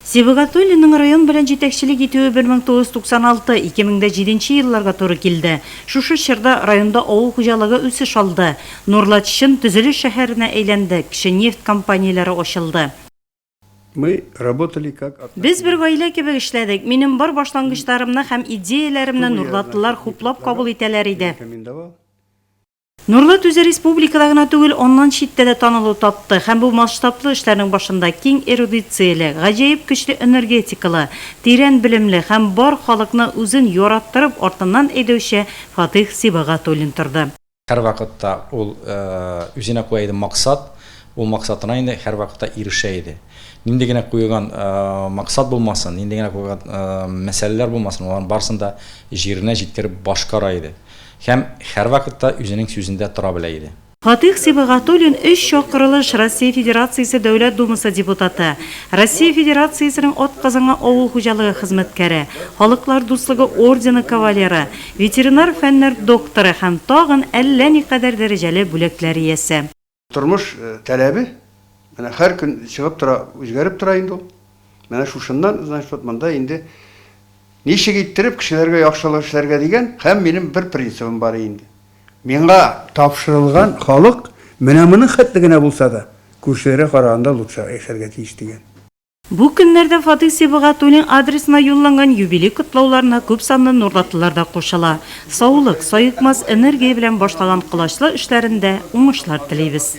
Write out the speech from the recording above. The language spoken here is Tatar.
Сибагатуллинның район белән җитәкчелек итүе 1996, 2007 нче елларга туры килде. Шушы чорда районда авыл хуҗалыгы үсеш алды. Нурлат чын төзелеш шәһәренә әйләнде, кече нефть компанияләре ачылды. Без бер гаилә кебек эшләдек. Минем бар башлангычларымны һәм идеяләремне нурлатлылар хуплап кабул итәләр иде. Нурлат үзе республикада гына түгел, аннан читтә дә танылу тапты һәм бу масштаблы эшләрнең башында киң эрудицияле, гаҗәеп көчле энергетикалы, тирән белемле һәм бар халыкны үзен яраттырып артыннан әйдәүче Фатыйх Сибагатуллин торды. Һәрвакытта ул үзенә куя иде максат, ул максатына инде һәрвакытта ирешә иде. Нинди генә куелган максат булмасын, нинди генә куелган мәсьәләләр булмасын, аларның барысын да җиренә җиткереп башкара иде. Һәм һәрвакытта үзенең сүзендә тора белә иде. Фатыйх Сибыгатуллин, өч чакырылыш Россия Федерациясе Дәүләт Думасы депутаты, Россия Федерациясенең атказанган авыл хуҗалыгы хезмәткәре, Халыклар дуслыгы ордены кавалеры, ветеринар фәннәр докторы һәм тагын әллә никадәр дәрәҗәле бүләкләр иясе. Тормыш таләбе менә һәр көн чыгып тора, үзгәреп тора инде ул. Менә шушыннан, значит, вот монда инде ничек иттереп кешеләргә яхшылык эшләргә дигән һәм минем бер принцибым бар инде. Миңа тапшырылган халык менә моның хәтле генә булса да, күршеләргә караганда лучшерак яшәргә тиеш дигән. Бу көннәрдә Фатыйх Сибгатуллин адресына юлланган юбилей котлауларына күпсанлы нурлатлылар да кушыла. Саулык, саекмас энергия белән башлаган колачлы эшләрендә уңышлар телибез.